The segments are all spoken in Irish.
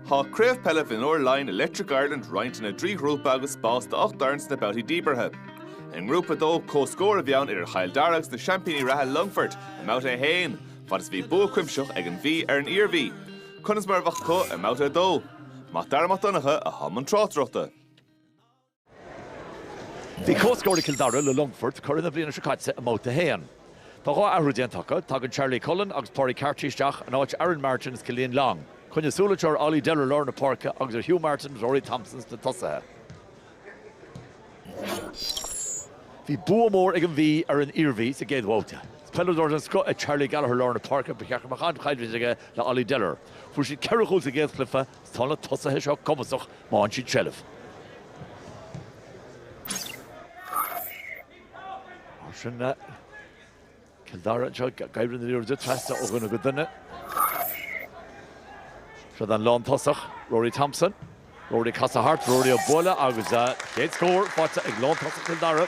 Tá Craobh Peile Mhionúir Laighin Electric Ireland roinnte ina dtrí ghrúpa agus spás do 8 d'fhoireann sna babhtaí díbeartha. I nGrúpa 2, comhscór a bhí ann idir Chill Dara agus na seaimpíní reatha Longfort i mBabhta 1, fad is a bhí bua cuimsitheach ag An Mhí ar an Iarmhí, conas mar a bheadh acu i mBabhta 2? Mac Dara Mac Donncha a i mbun na tráchtaireachta. Bhí comhscór ag Cill Dara le Longfort, curaidh na bliana seo caite, i mBabhta 1. Tá dhá athrú déanta acu, tagann Charlie Cullen agus Pádraig Carty isteach in áit Aaron Martin is Killian Long. Coinnigh súil anseo ar Ollie Deller i lár na páirce agus ar Hugh Martin is Rory Thompson sna tosaithe. Bhí bua mór ag an Mhí ar an Iarmhí sa gcéad bhabhta. Is peileadóir den scoth é Charlie Gallagher i lár na páirce, ba cheart go mbeadh an-choimhlint aige le Ollie Deller. Fuair siad ceithre chúl sa gcéad chluiche, Tá na tosaithe seo cumasach má fhaigheann siad seilbh. Mar sin le Cill Dara anseo, ag imirt na liathróide trasna ó dhuine go duine. Isteach ag an lántosach, Rory Thompson. Rory ag casadh thart, Rory á bualadh agus an chéad scór faighte ag lántosach Chill Dara.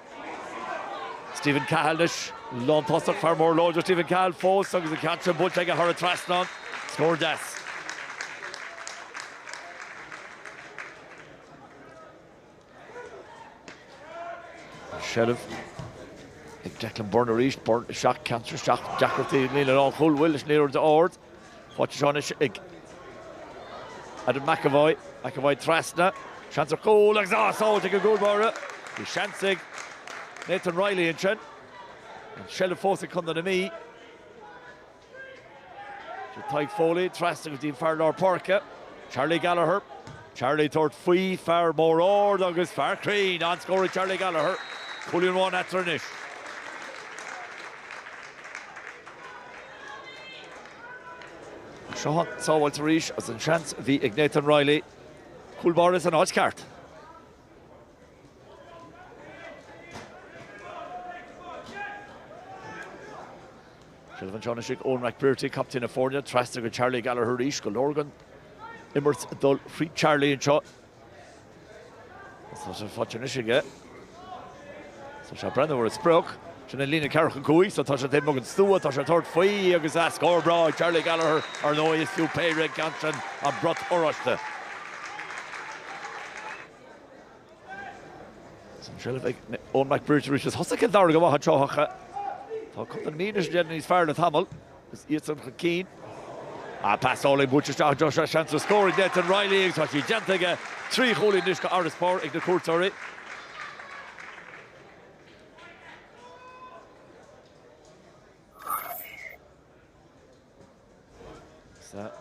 Stephen Cahill anois, lántosach, fear mór láidir Stephen Cahill fós agus an ceann sin buailte aige thar an trasnán, scór deas. Seilbh ag Declan Byrne arís, Byrne isteach, an ceann sin isteach, deacrachtaí líne an chúil bhfuil leis an aonaird ard. Faighte anseo anois ag Adam McEvoy. McEvoy trasna. Seans ar chúl agus sábháil ag an gcúl báire. Bhí seans ag Nathan Reilly ansin. An tseilbh fós ag Condae na Mí. Sé Tadhg Foley trasna go dtí an fear lár páirce. Charlie Gallagher. Charlie ag tabhairt faoi fear mór ard agus fear cruinn an-scór ag Charlie Gallagher. Cúilín amháin eatarthu anois. Seo an tsábháilt arís as an seans a bhí ag Nathan Reilly. Cúl báire san áit cheart. Seilbh anseo anois ag Eoin McBrearty, captaen na foirne. Trasna go Charlie Gallagher arís, go Lorgan. Imirt ag dul thríd Charlie anseo. Tá sé faighte anois aige. Tá sé ag breathnú ar an sprioc. Sin an líne ceathracha cúig so tá sé taobh amuigh den stua. Tá sé ag tabhairt faoi agus ah, scór breá ag Charlie Gallagher ar ndóigh. Is fiú péire an ceann sin an brat oráiste. An tseilbh ag Eoin McBrearty arís. Is thosaigh Cill Dara go maith ach. Tá Condae na Mí anois ag déanamh níos fearr le tamall. Is iadsan chun cinn. Ach pas álainn buaite isteach anseo, seo seans ar scór ag Nathan Reilly agus tá sí déanta aige, trí chúilín anois go fharasbarr ag na cuairteoirí.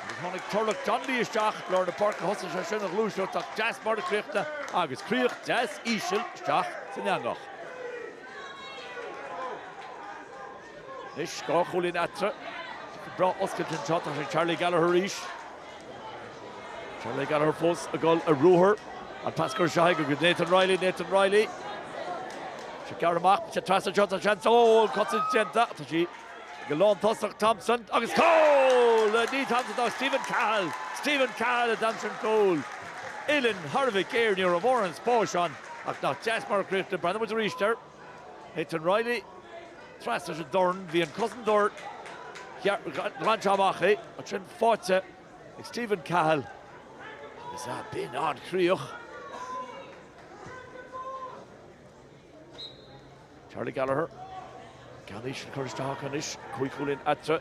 Agus tháinig Turlough Donnelly isteach lár na páirce thosaigh sé sin an ghluaiseacht nach deas mar a críochnaíodh agus críoch deas íseal isteach san eangach. Anois dhá chúilín eatarthu. Cic breá oscailte anseo atá ag Charlie Gallagher arís. Charlie Gallagher fós ag dul ar ruathar. An pas go dtéigh go go Nathan Reilly Nathan Reilly. Sách gar amach sé trasna shot an seans ó cosaint déanta Tá sí Ag an lántosach, Thompson agus cúl! Nó ní Thompson, ach Stephen Cahill! Stephen Cahill a d'aimsigh an cúl. Uillinn ghéar a bhí air, ní raibh mórán spáis ann, ach nach deas mar a críochnaíodh? Breathnóidh muid arís air. Nathan Reilly trasna leis an dorn. Bhí an cosantóir ag iarraidh a ghlanadh amach é. Ansin faighte ag Stephen Cahill agus, ah, b'in an-chríoch! Charlie Gallagher, an ceann íseal curtha isteach acu anois, cúig chúilín eatarthu.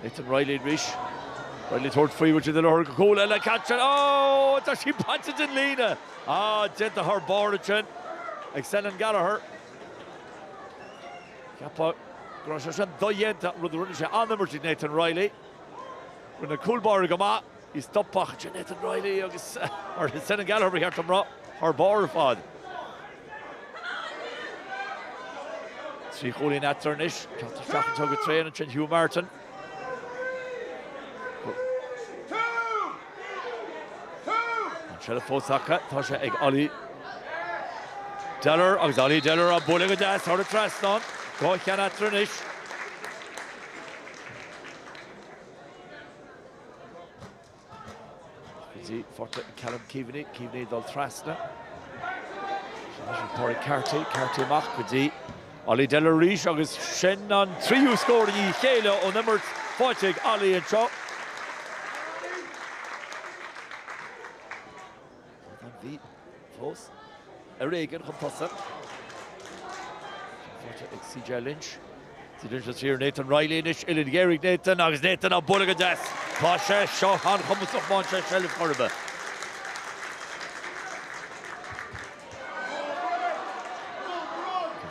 Nathan Reilly arís, Reilly ag tabhairt faoi bhfuil siad ag lorg cúl eile, caite sin, ó tá sí bainte den líne! Á, déanta thar barr ansin ag Senan Gallagher. Cheapfá go raibh sé sin dodhéanta, rud a rinne sé an-imirt ag Nathan Reilly. Rinne an cúl báire go maith. Bhí stopadh ag Nathan Reilly agus ar Senan Gallagher ba cheart dom rá, thar barr ar fad. Trí chúilín eatarthu anois, ceann isteach anseo go tréan ansin Hugh Martin. An tseilbh fós acu, tá sé ag Ollie Dellar agus Ollie Dellar á bualadh go deas thar an trasnán, dhá cheann eatarthu anois. Sin faighte ag Callum Keaveney, Keaveney ag dul trasna. Pádraig Carty, Carty amach go dtí Ollie Dellar arís agus sin an tríú scór i ndiaidh a chéile ón imirt faighte ag Ollie anseo. Brendan Blythe fós ar éigin chun tosaigh. Sin faighte ag CJ Lynch. Lynch siar Nathan Reilly anois uillinn ghéar ag Nathan agus Nathan á bualadh go deas. Tá sé seo an-chumasach má fhaigheann sé seilbh chor ar bith.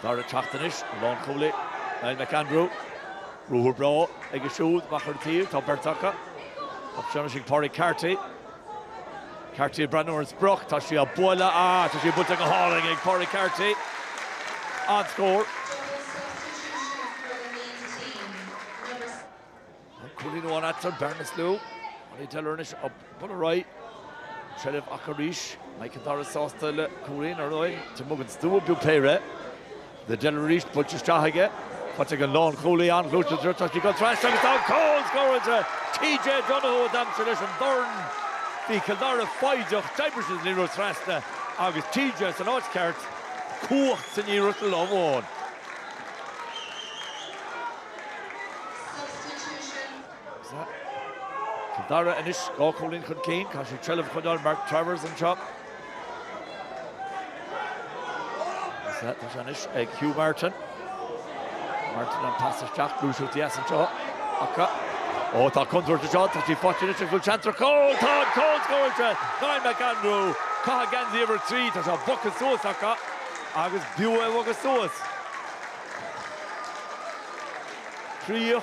Anois ag teacht anois an lánchúlaí Niall McAndrew. Ruathar breá aige siúd amach ar an taobh, tá beirt acu. Tá seans ag Pádraig Carty. Carty ag breathnú ar an sprioc, tá sí á bualadh ach tá sí buailte go hálainn ag Pádraig Carty. An-scór. An cúilín amháin eatarthu, bearna níos lú. An é Delor anois á bualadh ar aghaidh. Seilbh acu arís. An mbeidh Cill Dara sásta le cúilín ar aghaidh. Taobh amuigh den stua b'fhiú péire. Le déanamh arís, buailte isteach aige, faighte ag an lánchúlaí, an-chliste, tá sí ag dul trasna agus tá an cúl scóráilte! TJ Donoghue a d'aimsigh leis an dorn. Bhí Cill Dara foighdeach, d'oibrigh siad an liathróid trasna agus TJ san áit cheart, cumhacht san iarracht le lámh amháin. Substitution. Sa dara anois, dhá chúilín chun cinn, tá sé trealamh choinneáil Mark Travers anseo. Tá sé anois ag Hugh Martin. Martin an pas isteach, gluaiseacht deas anseo acu. Ó, tá contúirt anseo, tá sí faighte anois ag Will Chanter. Cúl! Tá an cúl scóráilte! Niall McAndrew, ag caitheamh geansaí uimhir a trí, tá sé bogtha suas acu agus b'fhiú é a bhogadh suas. 30.